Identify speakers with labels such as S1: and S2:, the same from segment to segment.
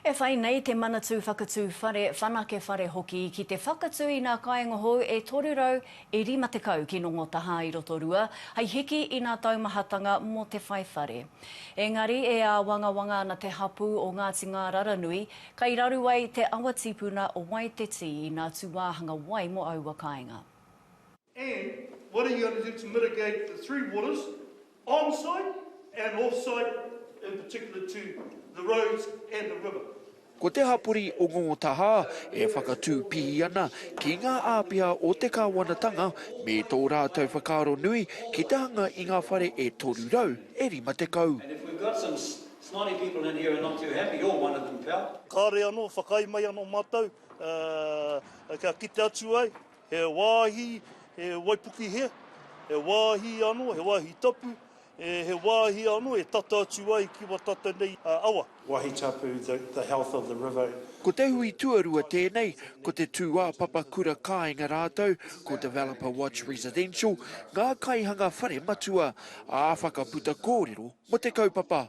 S1: E whai nei te Manatū Whakatū Whare, Whanake Whare hoki ki te whakatū i nā kāinga hou e 350 ki Nongotahā i Rotorua hai hiki i nā taumahatanga mō te whai whare. Engari e āwangawanga ana te hapū o Ngāti Ngāraranui, kai raru ai te awa tīpuna o Waiteti i nā tūāhanga wai mō aua kāinga. And
S2: what are you going to do to mitigate the three waters on site and off site in particular to the roads and the river? Ko te hapori
S3: o Ngō Tahā e whakatū pihi ana ki ngā āpiha o te kāwanatanga me tō rātou whakaaro nui ki te hanga i ngā whare e 300, e 50.
S4: Kāore anō, whakaae
S2: mai anō mātou kia kite atu ai He wāhi, he waipuke he, he wāhi anō, he wāhi tapu, he wāhi anō e tata atu ai ki wa tata nei awa. Wāhi tapu,
S5: the health of the river. Ko te hui
S3: tuarua tēnei, ko te tūāpapa kura kāinga rātou, ko Developer Watch Residential, ngā kaihanga whare matua, ā, whakaputa kōrero mō te kaupapa.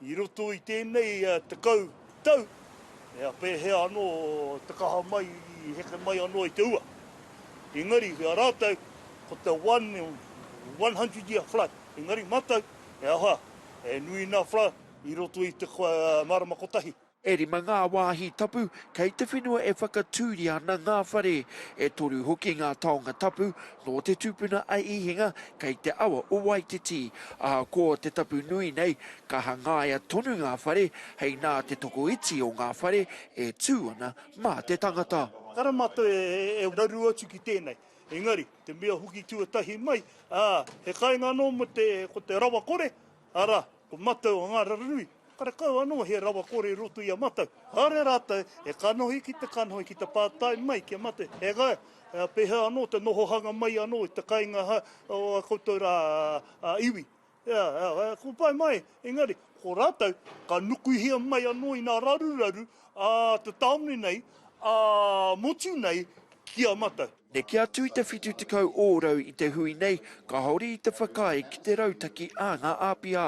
S2: I roto i tēnei tekau tau, ea pēhea anō te kaha mai i heke mai anō i te ua. Engari, ki a rātou, ko te one in one hundred year flood, engari mātou, he aha, he nui nā flood i roto i te marama kotahi. E rima ngā
S3: wāhi tapu kei te whenua e whakatūria ana ngā whare. E toru hoki ngā taonga tapu nō te tupuna a Īhinga kei te awa o Waititi. Ahakoa te tapu nui nei, ka hangaia tonu ngā whare hei nā te tokoiti o ngā whare e tū ana mā te tangata. Tara mātou
S2: e raru atu ki tēnei, engari te mea hoki tuatahi mai, ā, he kainga anō mō te, ko te rawakore, arā, Ko Matau o Ngāraranui, karekau anō he rawa kore i roto i a Matau. Kāore rātou e kanohi ki te kanohi ki te pātai mai ki a Matau, e ga, pēhea anō te nohohanga mai anō i te kainga o a koutou rā iwi. Ea, ea, ko pai mai, engari, ko rātou ka nukuhia mai anō i nā raruraru a te tāone nei, a motu nei ki a Matau. Neke atu i te
S3: 70 ōrau i te hui nei, kāore i te whakaae ki te rautaki a ngā āpiha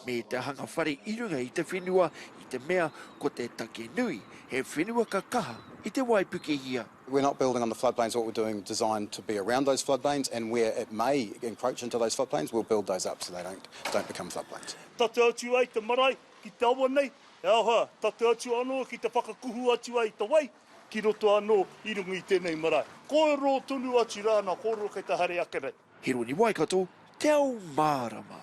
S3: me te hanga whare i runga i te whenua i te mea ko te take nui, he whenua ka kaha i te waipukehia. We're not building on the
S6: floodplains, what we're doing is designed to be around those floodplains and where it may encroach into those floodplains, we'll build those up so they don't become floodplains. Tata atu ai te
S2: marae ki te awa nei, he aha, tata atu anō ki te whakakuhu atu ai te wai, Ki roto anō i runga i tēnei marae. Kōrero tonu atu rāna,
S3: kōrero
S2: kei te haere
S3: ake
S2: nei. He roni
S3: waikato, te ao mārama.